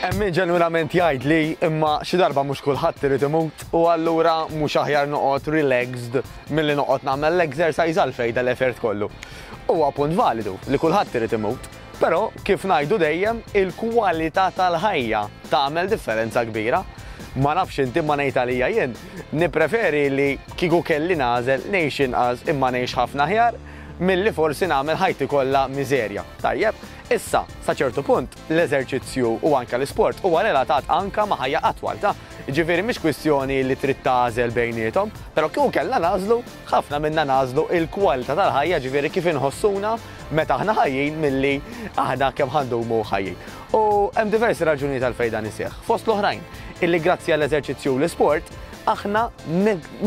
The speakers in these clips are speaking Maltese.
Hemm min ġenwinament jgħid li imma xi darba mhux kulħadd irid imut u allura mhux aħjar noqgħod relaxed milli noqgħod nagħmel l-exercise għal fejda l-effert kollu. Huwa punt validu li kulħadd irid imut, però kif ngħidu dejjem il-kwalità tal-ħajja tagħmel differenza kbira. Ma nafx inti ma ngħid għalija jien, nippreferi li kieku kelli nagħżel ngħix inqas imma ngħix ħafna aħjar milli forsi nagħmel ħajti kollha miżerja. Tajjeb? Issa, sa ċertu punt, l-eżerċizzju u anke l-isport huwa relatat anke ma' ħajja atwal, ta? Jiġifieri mhix kwistjoni li trid tagħżel bejniethom, però kieku kellna nagħżlu, ħafna minna nagħżlu l-kwalità tal-ħajja, jiġifieri kif inħossuna meta aħna ħajjin milli aħna kemm ħa ndumu ħajjin. U hemm diversi raġunijiet għalfejn dan iseħħ. Fost l-oħrajn, illi grazzi għall-eżerċizzju u l-isport, aħna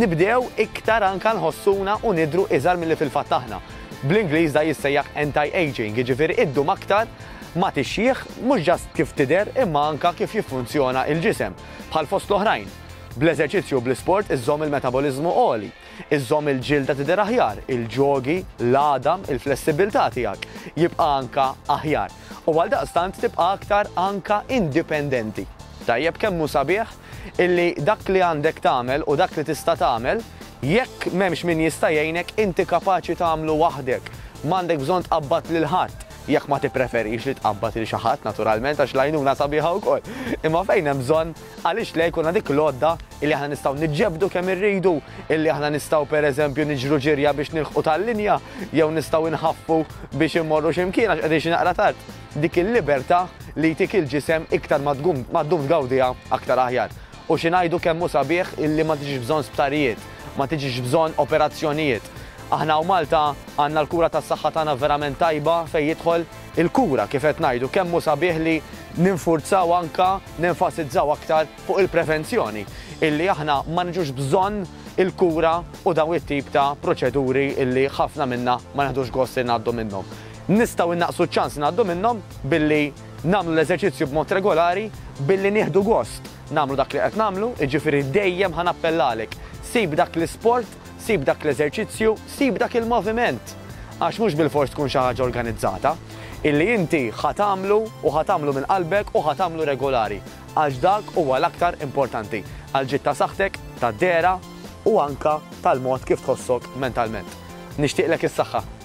nibdew iktar anke nħossuna u nidhru iżgħar milli fil-fatt aħna. Bl-Ingliż da jissejjaħ anti-aging, jiġifieri iddum aktar ma tixjieħ mhux just kif tidher imma anke kif jiffunzjona il-ġisem, bħal fost l-oħrajn. Bl-eżerċizzju u bl-isport iżżomm il-metaboliżmu għoli, iżżomm il-ġilda tidher aħjar, il-ġogi, l-għadam, il-flessibbiltà tiegħek jibqa' anke aħjar. U għaldaqstant tibqa' aktar anke indipendenti. Tajjeb kemm hu sabiħ illi dak li għandek tagħmel u dak li tista' tagħmel, jekk m'hemmx min jista' jgħinek, inti kapaċi tagħmlu waħdek. M'għandek bżonn tqabbad lil ħadd, jekk ma tippreferix li tqabbad lil xi ħadd naturalment għax l-għajnuna sabiħa wkoll. Imma fejn hemm bżonn, għaliex le jkollna dik l-għodda illi aħna nistgħu niġġebdu kemm irridu, illi aħna nistgħu pereżempju niġru ġirja biex nilħqu tal-linja jew nistgħu nħaffu biex immorru xi mkien għax qegħdin xi naqra tard. Dik il-libertà li jtik il-ġisem iktar ma ddum tgawdiha aktar aħjar. U xi ngħidu kemm hu sabiħ illi ma tiġix bżonn sptarijiet, ma tiġix bżonn operazzjonijiet. Aħna hawn Malta għandna l-kura tas-saħħa tagħna verament tajba fejn jidħol il-kura kif qed ngħidu kemm hu sabiħ li ninfurzaw anke nenfasizzaw aktar fuq il-prevenzjoni illi aħna ma niġux bżonn il-kura u dawn it-tip ta' proċeduri illi ħafna minna ma neħdux gost li ngħaddu minnhom. Nistgħu innaqqsu ċ-ċans li ngħaddu minnhom billi nagħmlu l-eżerċizzju b'mod regolari, billi nieħdu gost nagħmlu dak li qed nagħmlu, jiġifieri dejjem ħa nappellalek, sib dak l-isport, sib dak l-eżerċizzju, sib dak il-moviment, għax mhux bilfors tkun xi ħaġa organizzata, illi inti ħa tagħmlu u ħa tagħmlu minn qalbek u ħa tagħmlu regulari, għax dak huwa l-aktar importanti għall-ġid ta' saħħtek, tad-dehra u anke tal-mod kif tħossok mentalment. Nixtieqlek is-saħħa.